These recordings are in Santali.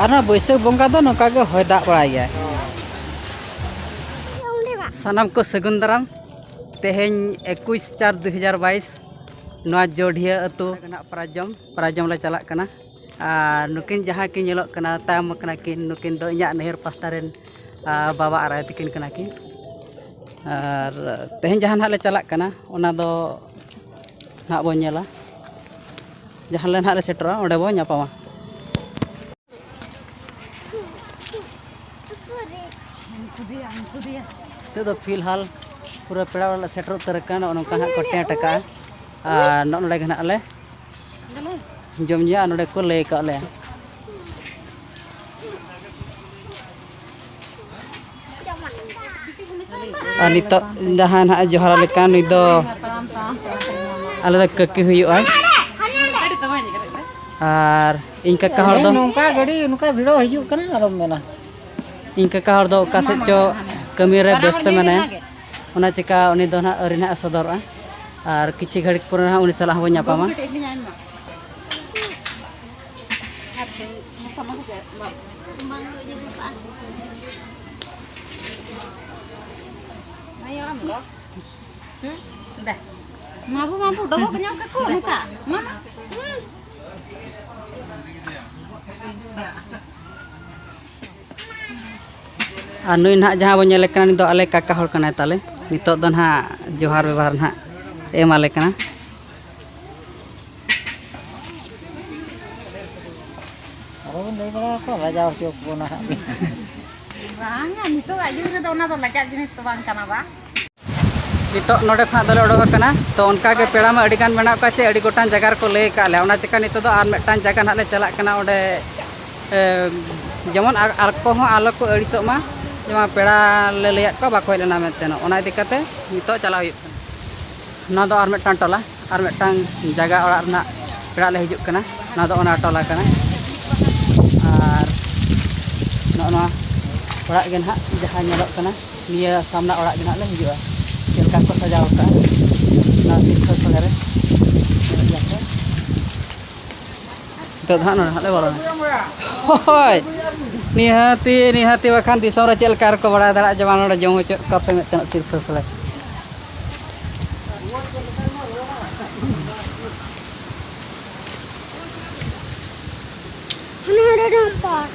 ᱟᱨ ᱱᱚᱣᱟ ᱵᱟᱹᱭᱥᱟᱹᱠᱷ ᱵᱚᱸᱜᱟ ᱫᱚ ᱱᱚᱝᱠᱟ ᱜᱮ ᱦᱚᱭ ᱫᱟᱜ ᱵᱟᱲᱟᱭ ᱜᱮᱭᱟᱭ ᱥᱟᱱᱟᱢ ᱠᱚ ᱥᱟᱹᱜᱩᱱ ᱫᱟᱨᱟᱢ ᱛᱮᱦᱮᱧ ᱮᱠᱩᱥ ᱪᱟᱨ ᱫᱩ ᱦᱟᱡᱟᱨ ᱵᱟᱭᱤᱥ ᱱᱚᱣᱟ ᱡᱚᱰᱷᱤᱭᱟᱹ ᱟᱹᱛᱩ ᱨᱮᱱᱟᱜ ᱯᱨᱟᱡᱚᱢ ᱯᱨᱟᱡᱚᱢ ᱞᱮ ᱪᱟᱞᱟᱜ ᱠᱟᱱᱟ ᱟᱨ ᱱᱩᱠᱤᱱ ᱡᱟᱦᱟᱸ ᱠᱤᱱ ᱧᱮᱞᱚᱜ ᱠᱟᱱᱟ ᱛᱟᱭᱚᱢ ᱠᱟᱱᱟ ᱠᱤᱱ ᱱᱩᱠᱤᱱ ᱫᱚ ᱤᱧᱟᱹᱜ ᱱᱟᱹᱭᱦᱟᱹᱨ ᱯᱟᱥᱴᱟ ᱨᱮᱱ ᱵᱟᱵᱟ ᱟᱨ ᱟᱭᱳ ᱛᱟᱹᱠᱤᱱ ᱠᱟᱱᱟ ᱠᱤᱱ ᱟᱨ ᱛᱮᱦᱮᱧ ᱡᱟᱦᱟᱸ ᱱᱟᱦᱟᱜ ᱞᱮ ᱪᱟᱞᱟᱜ ᱠᱟᱱᱟ ᱚᱱᱟ ᱫᱚ ᱱᱟᱦᱟᱜ ᱵᱚᱱ ᱧᱮᱞᱟ ᱡᱟᱦᱟᱸ ᱞᱮ ᱱᱟᱦᱟᱜ ᱞᱮ ᱥᱮᱴᱮᱨᱚᱜᱼᱟ ᱚᱸᱰᱮ ᱵᱚᱱ ᱧᱟᱯᱟᱢᱟ ᱱᱤᱛᱚᱜ ᱫᱚ ᱯᱷᱤᱞᱦᱟᱞ ᱯᱩᱨᱟᱹ ᱯᱮᱲᱟ ᱚᱲᱟᱜ ᱞᱮ ᱥᱮᱴᱮᱨ ᱩᱛᱟᱹᱨ ᱟᱠᱟᱱᱟ ᱱᱚᱜᱼᱚ ᱱᱚᱝᱠᱟ ᱦᱟᱸᱜ ᱠᱚ ᱴᱮᱸᱴ ᱟᱠᱟᱜᱼᱟ ᱟᱨ ᱱᱚᱜᱼᱚ ᱱᱚᱰᱮ ᱜᱮ ᱱᱟᱦᱟᱜ ᱞᱮ ᱡᱚᱢ ᱧᱩᱭᱟ ᱟᱨ ᱱᱚᱰᱮ ᱠᱚ ᱞᱟᱹᱭ ᱟᱠᱟᱫ ᱞᱮᱭᱟ ᱟᱨ ᱱᱤᱛᱚᱜ ᱡᱟᱦᱟᱸ ᱱᱟᱦᱟᱜ ᱡᱚᱦᱟᱨ ᱟᱞᱮ ᱠᱟᱱ ᱱᱩᱭ ᱫᱚ ᱟᱞᱮ ᱫᱚ ᱠᱟᱹᱠᱤ ᱦᱩᱭᱩᱜᱼᱟ ᱟᱨ ᱤᱧ ᱠᱟᱠᱟ ᱦᱚᱲ ᱫᱚ ᱱᱚᱝᱠᱟ ᱜᱟᱹᱰᱤ ᱱᱚᱝᱠᱟ ᱵᱷᱤᱲᱚ ᱦᱤᱡᱩᱜ ᱠᱟᱱᱟ ᱟᱨᱚᱢ ᱢᱮᱱᱟ ᱤᱧ ᱠᱟᱠᱟ ᱦᱚᱲ ᱫᱚ ᱚᱠᱟ ᱥᱮᱫ ᱪᱚ ᱠᱟᱹᱢᱤ ᱨᱮ ᱵᱮᱥᱛᱚ ᱢᱮᱱᱟᱭᱟ ᱚᱱᱟ ᱪᱤᱠᱟ ᱩᱱᱤ ᱫᱚ ᱱᱟᱦᱟᱜ ᱟᱹᱣᱨᱤ ᱱᱟᱦᱟᱜ ᱥᱚᱫᱚᱨᱚᱜᱼᱟ ᱟᱨ ᱠᱤᱪᱷᱩ ᱜᱷᱟᱹᱲᱤᱡ ᱯᱚᱨᱮ ᱱᱟᱦᱟᱜ ᱩᱱᱤ ᱥᱟᱞᱟᱜ ᱦᱚᱸᱵᱚᱱ ᱧᱟᱯᱟᱢᱟ Mabu mabu dogo kenyal ke ko neta. Mana? ᱟᱨ ᱱᱩᱭ ᱱᱟᱦᱟᱜ ᱡᱟᱦᱟᱸ ᱵᱚᱱ ᱧᱮᱞᱮ ᱠᱟᱱᱟ ᱱᱩᱭ ᱫᱚ ᱟᱞᱮ ᱠᱟᱠᱟ ᱦᱚᱲ ᱠᱟᱱᱟᱭ ᱛᱟᱞᱮ ᱱᱤᱛᱚᱜ ᱫᱚ ᱱᱟᱦᱟᱜ ᱡᱚᱦᱟᱨ ᱵᱮᱵᱚᱦᱟᱨ ᱱᱟᱦᱟᱜ ᱮᱢᱟᱞᱮ ᱠᱟᱱᱟ ᱟᱨᱚᱵᱚᱱ ᱞᱟᱹᱭ ᱵᱟᱲᱟ ᱟᱠᱚ ᱞᱟᱡᱟᱣ ᱦᱚᱪᱚ ᱵᱚᱱᱟ ᱦᱟᱸᱜ ᱵᱟᱝᱟ ᱱᱤᱛᱚᱜ ᱟᱜ ᱡᱩᱜᱽ ᱨᱮᱫᱚ ᱚᱱᱟ ᱫᱚ ᱞᱟᱡᱟᱜ ᱡᱤᱱᱤᱥ ᱫᱚ ᱵᱟᱝ ᱠᱟᱱᱟ ᱵᱟᱝ ᱱᱤᱛᱚᱜ ᱱᱚᱰᱮ ᱠᱷᱚᱱᱟᱜ ᱫᱚᱞᱮ ᱚᱰᱚᱠ ᱟᱠᱟᱱᱟ ᱛᱚ ᱚᱱᱠᱟ ᱜᱮ ᱯᱮᱲᱟ ᱢᱟ ᱟᱹᱰᱤ ᱜᱟᱱ ᱢᱮᱱᱟᱜ ᱠᱚᱣᱟ ᱪᱮ ᱟᱹᱰᱤ ᱜᱚᱴᱟᱝ ᱡᱟᱭᱜᱟ ᱨᱮᱠᱚ ᱞᱟᱹᱭ ᱟᱠᱟᱫ ᱞᱮᱭᱟ ᱚᱱᱟ ᱪᱤᱠᱟ ᱱᱤᱛᱚᱜ ᱫᱚ ᱟᱨ ᱢᱤᱫᱴᱟᱝ ᱡᱟᱭᱜᱟ ᱱᱟᱦᱟᱜ ᱞᱮ ᱪᱟᱞᱟᱜ ᱠᱟᱱᱟ ᱚᱸᱰᱮ ᱡᱮᱢᱚᱱ ᱟᱨ ᱠᱚᱦᱚᱸ ᱟᱞᱚ ᱠᱚ ᱟᱹᱲᱤᱥᱚᱜ ᱢᱟ ᱡᱮᱢᱚᱱ ᱯᱮᱲᱟ ᱞᱮ ᱞᱟᱹᱭᱟᱫ ᱠᱚᱣᱟ ᱵᱟᱠᱚ ᱦᱮᱡ ᱞᱮᱱᱟ ᱢᱮᱱᱛᱮ ᱚᱱᱟ ᱤᱫᱤ ᱠᱟᱛᱮ ᱱᱤᱛᱚᱜ ᱪᱟᱞᱟᱜ ᱦᱩᱭᱩᱜ ᱠᱟᱱᱟ ᱱᱚᱣᱟ ᱫᱚ ᱟᱨ ᱢᱤᱫᱴᱟᱝ ᱴᱚᱞᱟ ᱟᱨ ᱢᱤᱫᱴᱟᱝ ᱡᱟᱭᱜᱟ ᱚᱲᱟᱜ ᱨᱮᱱᱟᱜ ᱯᱮᱲᱟ ᱞᱮ ᱦᱤᱡᱩᱜ ᱠᱟᱱᱟ ᱱᱚᱣᱟ ᱫᱚ ᱚᱱᱟ ᱴᱚᱞᱟ ᱠᱟᱱᱟ ᱟᱨ ᱱᱚᱜᱼᱚ ᱱᱚᱣᱟ ᱚᱲᱟᱜ ᱜᱮ ᱱᱟᱦᱟᱜ ᱡᱟᱦᱟᱸ ᱧᱮᱞᱚᱜ ᱠᱟᱱᱟ ᱱᱤᱭᱟᱹ ᱥᱟᱢᱱᱟ ᱚᱲᱟᱜ ᱜᱮ ᱱᱟᱦᱟᱜ ᱞᱮ ᱦᱤᱡᱩᱜᱼᱟ ᱪᱮᱫ ᱞᱮᱠᱟ ᱠᱚ ᱥᱟᱡᱟᱣ ᱠᱟᱜᱼᱟ ᱚᱱᱟ ᱥᱤᱨᱯᱟᱹ ᱥᱚᱸᱜᱮ ᱨᱮ ᱧᱮᱞ ᱜᱮᱭᱟ ᱯᱮ ᱱᱤᱛᱚᱜ ᱫᱚ ᱦᱟᱸᱜ ᱱᱚᱰᱮ ᱦᱟᱸᱜ ᱞᱮ ᱵᱚᱞᱚᱱᱟ ᱦᱳᱭ ᱱᱤᱦᱟᱹᱛᱤ ᱱᱤᱦᱟᱹᱛᱤ ᱵᱟᱠᱷᱟᱱ ᱫᱤᱥᱚᱢ ᱨᱮ ᱪᱮᱫ ᱞᱮᱠᱟ ᱨᱮᱠᱚ ᱵᱟᱲᱟᱭ ᱫᱟᱲᱮᱭᱟᱜᱼᱟ ᱡᱮ ᱵᱟᱝ ᱱᱚᱰᱮ ᱡᱚᱢ ᱦᱚᱪᱚᱭᱮᱫ ᱠᱚᱣᱟ ᱯᱮ ᱢᱮᱱᱛᱮ ᱥᱤᱨᱯᱟᱹ ᱥᱚᱲᱮ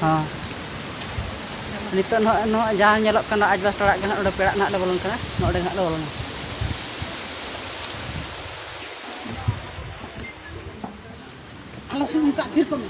ᱦᱚᱸ ᱱᱤᱛᱚᱜ ᱱᱚᱜᱼᱚᱭ ᱱᱚᱜᱼᱚᱭ ᱡᱟᱦᱟᱸ ᱧᱮᱞᱚᱜ ᱠᱟᱱᱟ ᱟᱡᱵᱟᱥ ᱚᱲᱟᱜ ᱜᱮ ᱱᱟᱜ ᱚᱸᱰᱮ ᱯᱮᱲᱟᱜ ᱱᱟᱜ ᱞᱮ ᱵᱚᱞᱚᱱ ᱠᱟᱱᱟ ᱱᱚᱸᱰᱮ ᱱᱟᱜ ᱞᱮ ᱵᱚᱞᱚᱱᱟ ᱟᱞᱚ ᱥᱩᱱᱩᱢ ᱠᱟᱜ ᱛᱷᱤᱨ ᱠᱚᱜ ᱢᱮ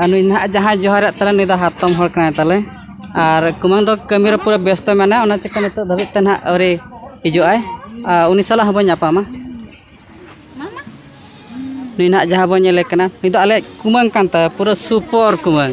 ᱟᱨ ᱱᱩᱭ ᱱᱟᱦᱟᱜ ᱡᱟᱦᱟᱸᱭ ᱡᱚᱦᱟᱨᱮᱫ ᱛᱟᱞᱮ ᱱᱩᱭ ᱫᱚ ᱦᱟᱛᱚᱢ ᱦᱚᱲ ᱠᱟᱱᱟᱭ ᱛᱟᱞᱮ ᱟᱨ ᱠᱩᱢᱟᱹᱝ ᱫᱚ ᱠᱟᱹᱢᱤ ᱨᱮ ᱯᱩᱨᱟᱹ ᱵᱮᱥᱛᱚ ᱢᱮᱱᱟᱭᱟ ᱚᱱᱟ ᱪᱤᱠᱟᱹ ᱱᱤᱛᱚᱜ ᱫᱷᱟᱹᱵᱤᱡ ᱛᱮ ᱱᱟᱦᱟᱜ ᱟᱹᱣᱨᱤ ᱦᱤᱡᱩᱜ ᱟᱭ ᱟᱨ ᱩᱱᱤ ᱥᱟᱞᱟᱜ ᱦᱚᱸ ᱵᱚᱱ ᱧᱟᱯᱟᱢᱟ ᱱᱩᱭ ᱱᱟᱦᱟᱜ ᱡᱟᱦᱟᱸ ᱵᱚᱱ ᱧᱮᱞᱮ ᱠᱟᱱᱟ ᱱᱩᱭ ᱫᱚ ᱟᱞᱮ ᱠᱩᱢᱟᱹᱝ ᱠᱟᱱ ᱛᱟᱭᱟ ᱯᱩᱨᱟᱹ ᱥᱩᱯᱚᱨ ᱠᱩᱢᱟᱹᱝ